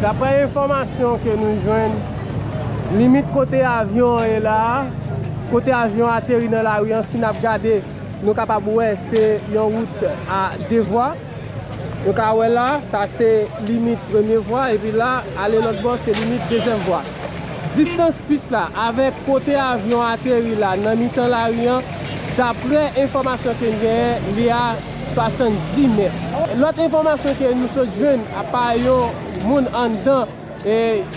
Daprè enfòmasyon ke nou jwenn, limit kote avyon an ye la a, kote avyon an ateri nan lari an, si n ap gade, nou kapab wè se yon wout a 2 vwa. Nou ka wè la, sa se limit premye vwa, epi la, ale lòt bò, se limit dezyèm vwa. Distans pis la avèk kote avyon an ateri la, nan mitan lari an, daprè enfòmasyon ke n genyen, li a. 70 mèt. Lòt enfòmasyon ke nou sot jwenn apa yon moun anndan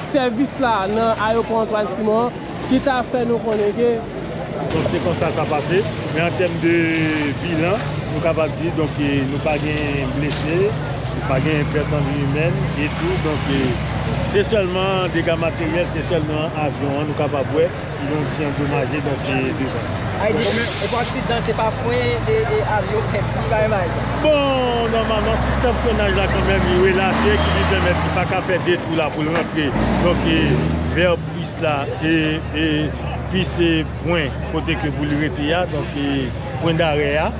sèvis la nan ayopò Antoine Simon an ki ta fè nou konnen ke. Donk se konsa sa pase, men an tèm de bilan nou kapab di donk nou pa gen blese, nou pa gen pèt an vi imèn e tou donk se sèlman dega materyèl, se sèlman avyon an nou kapab wè. Donk si andomaje donk li devan. Ay di ou pa aksidan se pa fren e avyon fè ti bay may la. Bon nòmalman sistèm frenaj la kanmèm li relache ki vin pèmèt li pa ka fè 2 twou la pou l rantre donk vè pis la e pis pwen kote ke pou l rete a donk pwen dare a.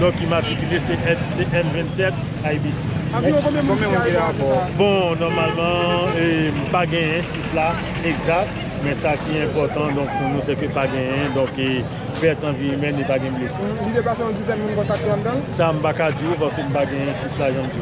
Non ki matrikile se M 27 IBC. Anviwon konbyen moun ki arive a sa? Bon nòmalman pa genyen chif la egzat men sa ki enpòtan donk pou nou se ke pa genyen donk pèt an vi imèn e pa gen blese. Li deplase yon dizèn moun konsa ki anndan l? Sa m pa ka di w paske m pa genyen chif la jan m di w.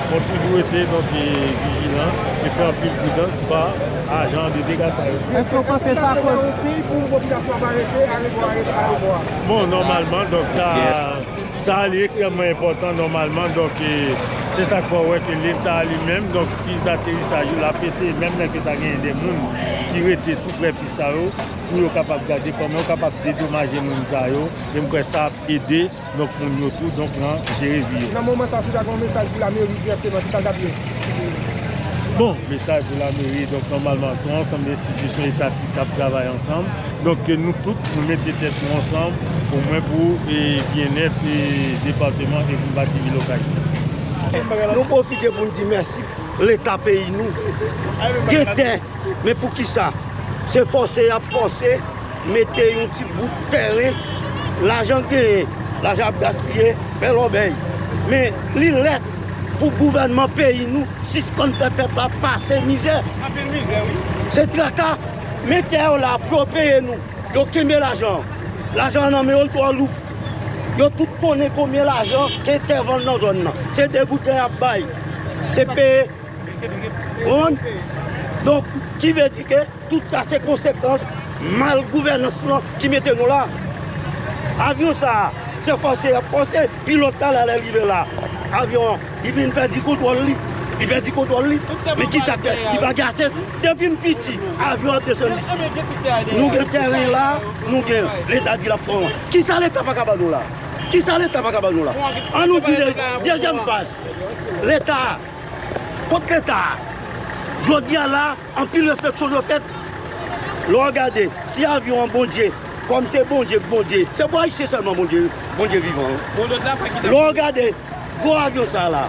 Fò toujou rete donke vijilan e fè anpil pridans pa ajan de dega sa yo. Eske w panse sa koz. Bon nòmalman donk sa sa li ekstrèmman enpòtan nòmalman donk se sa k fè w wè ke leta li menm donk pis daterisaj yo l ap eseye menm lè ke ta genyen de moun ki rete tou prè pis sa yo pou yo kapab gade kòman yo kapab dedomaje moun sa yo e m kwè sa ap ede Donk moun yo tou donk nan jere vi yo. Nan moman sa si ta gen yon mesaj pou lameri dirèkteman ki sa l tap ye? Bon, mesaj pou lameri donk nòmalman se yon ansanm de enstitisyon etatik k ap travay ansanm. Donk ke nou tout nou mete tèt nou ansanm o mwen pou byennèt depateman e pou bati vil Okay. Nou pwofite pou n di mèsi leta peyi nou. Gen tè men pou kisa se fòse y ap fòse. Mete yon ti bout tèren, lajan genyen, lajan ap gaspiye, fè lòbèy. Men, li lè pou gouvènman peyi nou sispann fè pèp la pase mizè. Anpil mizè wi. Se traka. Men tè yo la pou yo peye nou. Yo kenbe lajan an. Lajan an nan men yo li twò lou. Yo tout konnen konbyen lajan gen tè vann nan zòn nan. Se degoutè y ap bay. Se peye. Ou konprann? Donk, ki vle di ke. Tout sa se konsekans mal gouvènans lan ki mete nou la. Avyon sa a, se fòse y ap fòse pilòt la la lè l rive la. Avyon an, li vin pèdi kontwòl li. Li pèdi kontwòl li, men ki sa k fè? Li pa gen ase. Depi m piti, avyon ap desann isi. Nou gen tèren la, nou gen. Leta di l ap pran. Ki sa Leta pa ka ban nou la? Ki sa Leta pa ka ban nou la? An nou di de, dezyèm faz. Leta a, kot Leta a? Jodi a la. Anpil refleksyon dwe fèt lè w gade si avyon an Bondye, kòm se Bondye k Bondye, se pou Ayisyen sèlman Bondye Bondye vivan wi. Lè w gade gwo avyon sa la,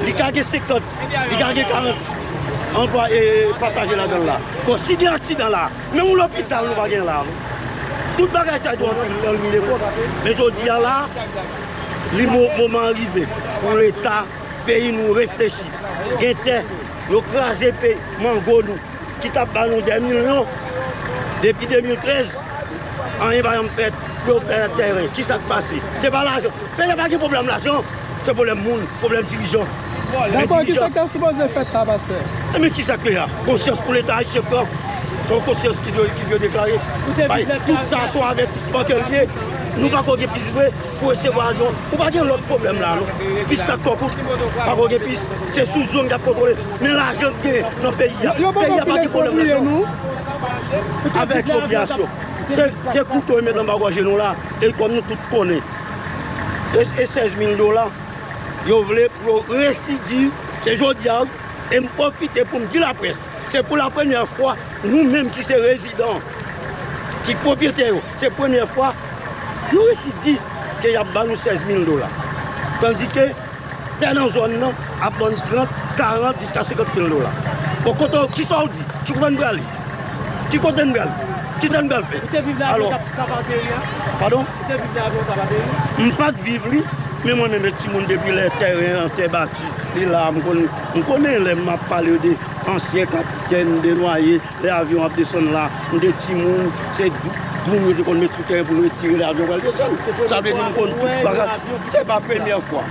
li ka gen 50, li ka gen 40 anplwa e pasaje ladan l la. Bon, si gen aksidan la, menm yon lopital nou pa gen la non. Tout bagay sa yo anpil anpil epòk, men jodi a la, li moman an rive pou Leta. Peyi nou reflechi gen tè yo kraze pe mango nou ki tap ba nou 2 milyon depi 2013 anyen pa janm fèt pou yo fè tèren kisak pase se pa lajan peyi a pa gen pwoblèm lajan se pwoblèm moun pwoblèm dirijan Dabò kisak ta sipoze fèt la pastè? Ebyen kisak peyi a konsyans pou leta ayisyen pran se yon konsyans ki dwe deklare bay tout sa se yon avètisman ke l ye nou pako gen plis vre. Pou resevwa avyon ou pa gen lòt pwoblèm la non, pis la twò kout, pako gen pis, se sou zòn yap kontwole, men lajan ki genyen nan peyi a, peyi a pa gen pwoblèm lajan non, avè ekspropriyasyon, se kouto yo met anba gòje nou la, e kòm nou tout konnen, e 16 mil dola, yo vle pou yo residi, se jodi a wi, e m pwofite pou m di laprès, se pou la premyè fwa, nou menm ki se rezidan, ki pwopyetè yo. Se premyè fwa yo resi di ke yap ban nou 16 mil dola. Tandi ke tè nan zòn nan ap ban nou 30, 40 jiska 50 mil dola. Bon kote w, kisa w di? Ki kote n prale? Ki kote n prale? Kisa n pral fè? Ou te viv la avan w ta ba peyi a? Padon? Ou te viv la avan w ta ba peyi a? M pat viv li, men mwen menm e timoun depi lè tèren an, tè bati, li la a m konnen. M konnen lè m ap pale de ansyen kapitèn, de nwaye. Lè avyon ap desann la, m te timoun, se dwoum yo te konn met sou tè pou yo tire lè avyon pral desann. Sa vle di m konn tout bagay. Se pa premyè fwa.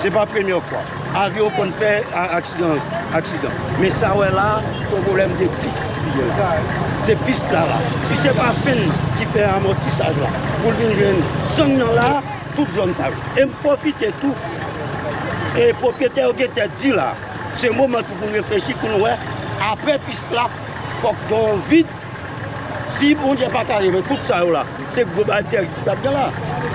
Se pa premyè fwa. Avyon konn fè aksidan. Aksidan. Men sa wè la, se yon pwoblèm de pis li ye la. Se pis la la. Si se pa fen nan ki fè amòtisaj la pou l vin jwenn zòn nan la, tout zòn sa yo. E m pwofite tou, e pwopriyetè yo gen tèt di la. Se moman tou pou reflechi pou nou wè aprè pis la fòk gen yon vid si Bondye pa ta leve tout sa yo la se gwo bagay tèrib ki tap gen la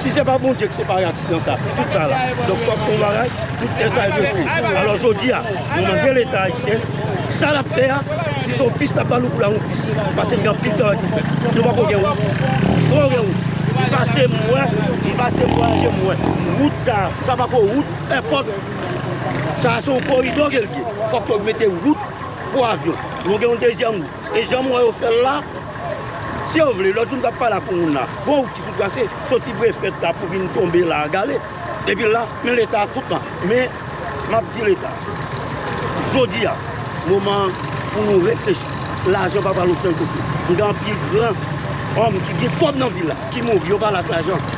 si se pa Bondye ki separe aksidan sa tout sa la donk fòk gen yon bagay tout tè sa yo dwe fini alò jodi a nou mande leta ayisyen sa lap fè a si son pis lap ba nou pou la yon pis pase gen anpil travay pou fè nou poko gen wout fòk gen wout m pase m wè m pase m vwayaje m wè wout sa sa pako wout èpòt. Sa a se yon koridò ke l ye. Fòk yo mete wout pou avyon. Nou gen yon dezyèm wout. E jan m wè yo fè l la, si yo vle, lòt jou m t ap pale ak yon moun la, gon wout ki tou trase, soti Brefèt la pou vin tonbe la a gale, epi la, men Leta tout tan. Men, m ap di Leta, jodi a, moman an pou nou reflechi. Lajan pa pral okenn kote. M gen anpil gran òm ki gen kòb nan vil la, ki mouri, yo pa la ak lajan.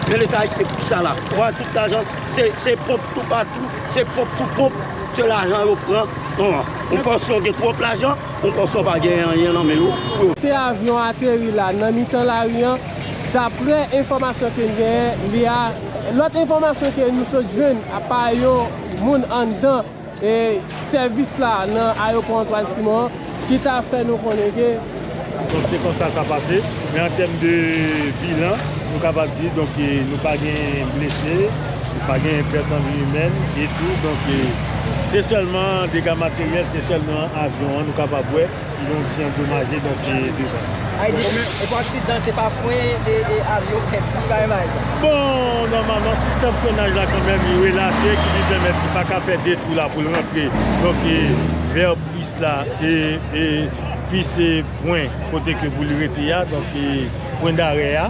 Men Leta Ayisyen, pou ki sa la? Ou pa wè tout lajan. Se ponp tou patou, se ponp tou ponp, se lajan yo pran. Ou panse yo gen twòp lajan, ou panse yo pa gen anyen nan men yo. Kote avyon an ateri la, nan mitan lari an, daprè enfòmasyon ke n genyen, li a, lòt enfòmasyon ke nou sot jwenn, apa yon moun anndan. E sèvis la nan ayopò Antoine Simon an ki ta fè nou konnen ke. Donk se konsa sa pase. Men an tèm de bilan, nou kapab di donk nou pa gen blese, nou pa gen pèt an vi imèn e tou donk se sèlman dega materyèl, se sèlman avyon an nou kapab wè. Kidonk si andomaje donk li devan. Ay di ou pa aksidante pa fwen e avyon pèt ki bagay mal sa. Bon nòmalman sistèm frenaj la kanmèm li relache ki vin pèmèt li pa ka fè 2 twou la pou l rantre donk vè pis la e pis pwen kote ke pou l rete a donk pwen dare a.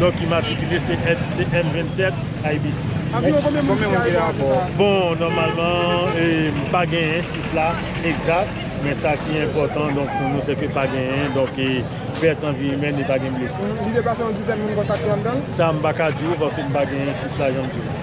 Dok ki matrikile se M 27 IBC. Anviwon konbyen moun ki arive a sa? Bon nòmalman pa genyen chif la egzat men sa ki enpòtan donk pou nou se ke pa genyen donk pèt an vi imèn e pa gen blese. Li deplase yon dizèn moun konsa ki anndan l? Sa m pa ka di w paske m pa genyen chif la jan m di w.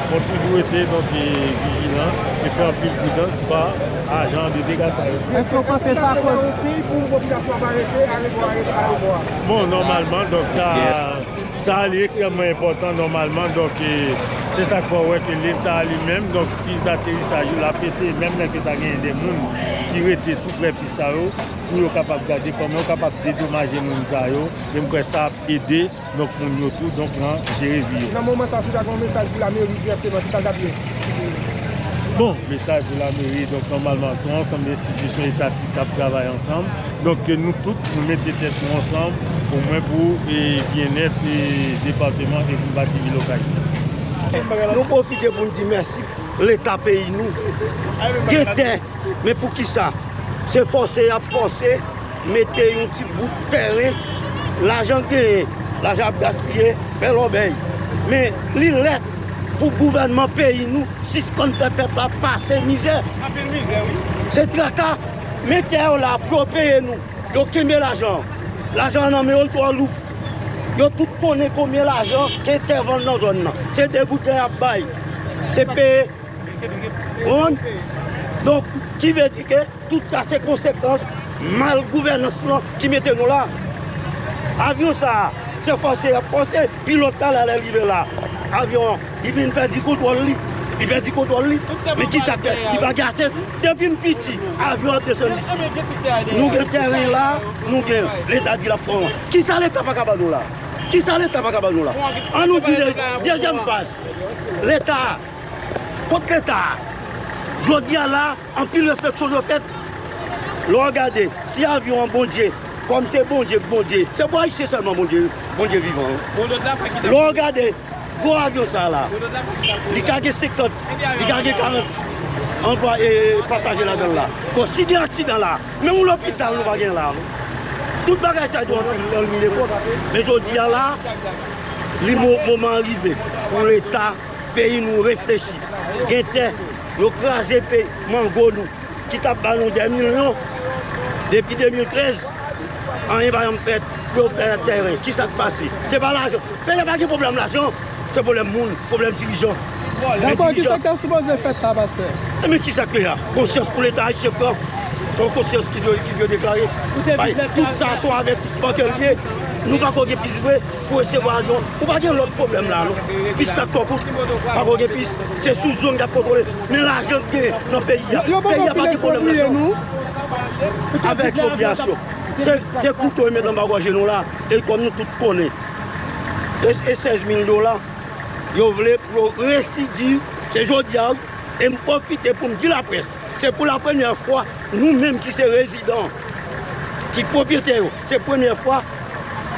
Fò toujou rete donk vijilan e fè anpil pridans pa ajan de dega sa yo. Eske w panse sa koz. Bon nòmalman donk sa sa li ekstrèmman enpòtan nòmalman donk se sa k fè w wè ke leta li menm donk pis daterisaj yo l ap eseye menm lè ke ta genyen de moun ki rete tou prè pis sa yo pou yo kapab gade kòman yo kapab dedomaje moun sa yo e m kwè sa ap ede Donk moun yo tou donk nan jere vi yo. Nan moman sa si ta gen yon mesaj pou lameri dirèkteman ki sa l tap ye? Bon, mesaj pou lameri donk nòmalman se yon ansanm de enstitisyon etatik k ap travay ansanm donk ke nou tout nou mete tèt nou ansanm o mwen pou byennèt depateman e pou bati vil Okay. Nou pwofite pou n di mèsi leta peyi nou gen tè men pou kisa se fòse y ap fòse. Mete yon ti bout tèren, lajan genyen, lajan ap gaspiye, fè lòbèy. Men, li lè pou gouvènman peyi nou sispann fè pèp la pase mizè. Se traka, men tè yo la pou yo peye nou. Yo kenbe lajan an. Lajan an nan men yo l twò lou. Yo tout konnen konbyen lajan gen tè vann nan zòn nan. Se degoutè y ap bay. Se peye. Ou konprann? Donk, ki vle di ke. Tout sa se konsekans mal gouvènans lan ki mete nou la. Avyon sa a, se fòse y ap fòse pilòt la la lè l rive la. Avyon an, li vin pèdi kontwòl li. Li pèdi kontwòl li, men ki sa k fè? Li pa gen ase. Depi m piti, avyon ap desann isi. Nou gen tèren la, nou gen. Leta di l ap pran. Ki sa Leta pa ka ban nou la? Ki sa Leta pa ka ban nou la? An nou di de, dezyèm faz. Leta a, kot Leta a? Jodi a la. Anpil refleksyon dwe fèt lè w gade si avyon an Bondye, kòm se Bondye k Bondye, se pou Ayisyen sèlman Bondye Bondye vivan wi. Lè w gade gwo avyon sa la, li ka gen 50, li ka gen 40 anplwa e pasaje ladan l la. Bon si gen aksidan la, menm yon lopital nou pa gen la non. Tout bagay sa yo anpil anpil epòk men jodi a la li moman an rive pou leta Peyi nou reflechi gen tè yo kraze pe mango nou ki tap ba nou 2 milyon depi 2013 anyen pa janm fèt pou yo fè tèren ki sak pase se pa lajan peyi a pa gen pwoblèm lajan se pwoblèm moun pwoblèm dirijan Dabò ki sak ta sipoze fèt la pastè? Ebyen ki sak peyi a konsyans pou leta ayisyen pran se yon konsyans ki dwe deklare bay tout sa se yon avètisman ke l ye nou pako gen plis vre. Pou resevwa avyon ou pa gen lòt pwoblèm la non, pis la twò kout, pako gen pis, se sou zòn kap kontwole, men lajan k genyen nan peyi a, peyi a pa gen pwoblèm lajan non, avèk ekspropriyasyon, se kouto yo met anba gòje nou la, e kòm nou tout konnen, e 16 mil dola yo vle pou yo residiv, se jodi a wi, e m pwofite pou m di laprès, se pou la premyè fwa nou menm ki se rezidan, ki pwopriyetè yo. Se premye fwa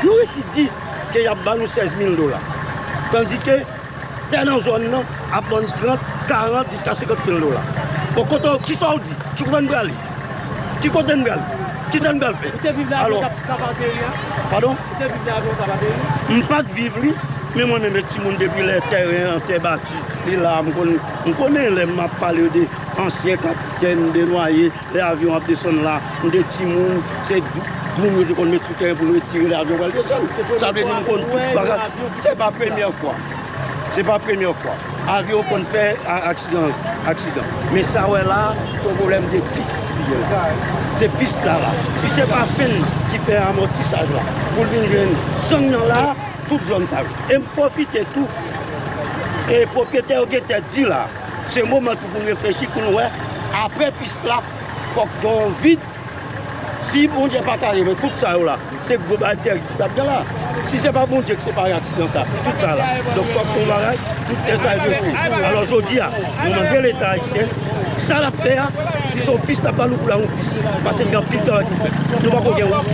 yo resi di ke yap ban nou 16 mil dola. Tandi ke tè nan zòn nan ap ban nou 30, 40 jiska 50 mil dola. Bon kote w, kisa w di? Ki kote n prale? Ki kote n prale? Kisa n pral fè? Ou te viv la avan w ta ba peyi a? Padon? Ou te viv la avan w ta ba peyi a? M pat viv li, men mwen menm e timoun depi lè tèren an, tè bati, li la a m konnen. M konnen lè m ap pale de ansyen kapitèn, de nwaye. Lè avyon an ap desann la, nou te timoun, se dwoum yo te konn met sou tè pou yo tire lè avyon pral desann. Sa vle di nou konn tout bagay. Se pa premyè fwa. Se pa premyè fwa. Avyon konn fè aksidan. Men sa wè la, se yon pwoblèm de pis ki gen la. Se pis la la. Si se pa fen ki fè amòtisaj la, pou l vin jwenn san nan la, tout zòn sa yo. E m pwofite tou, e pwopriyetè yo gen tèt di la. Se moman tou pou reflechi pou nou wè aprè pis la fòk gen yon vid si Bondye pa ta leve tout sa yo la se gwo bagay tèrib ki tap gen la si se pa Bondye ki separe aksidan sa tout sa la donk fòk gen yon bagay tout lè sa yo dwe fè alò jodi a nou mande leta ayisyen sa lap fè a si son pis lap ba nou pou la yon pis pase gen anpil travay pou fè nou pako gen wout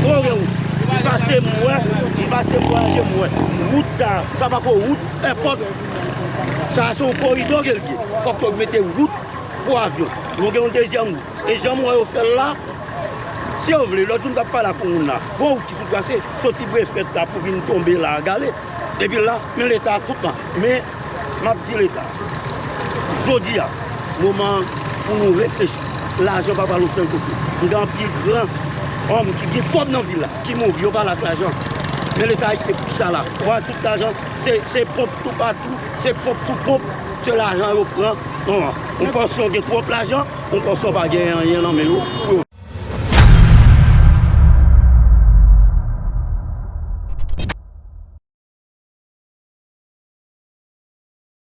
fòk gen wout m pase m wè m pase m vwayaje m wè wout sa sa pako wout èpòt. Sa a se yon koridò ke l ye. Fòk yo mete wout pou avyon. Nou gen yon dezyèm wout. E jan m wè yo fè l la, si yo vle, lòt jou m t ap pale ak yon moun la, gon wout ki pou trase soti Brefèt la pou vin tonbe la a gale, epi la, men Leta tout tan. Men, m ap di Leta, jodi a, moman an pou nou reflechi. Lajan pa pral okenn kote. M gen anpil gran òm ki gen kòb nan vil la ki mouri, yo pa la ak lajan. Men Leta Ayisyen, pou ki sa la? Ou pa wè tout lajan. Se ponp tou patou, se ponp sou ponp, se lajan yo pran. Ou panse yo gen twòp lajan, ou panse yo pa gen anyen nan men yo.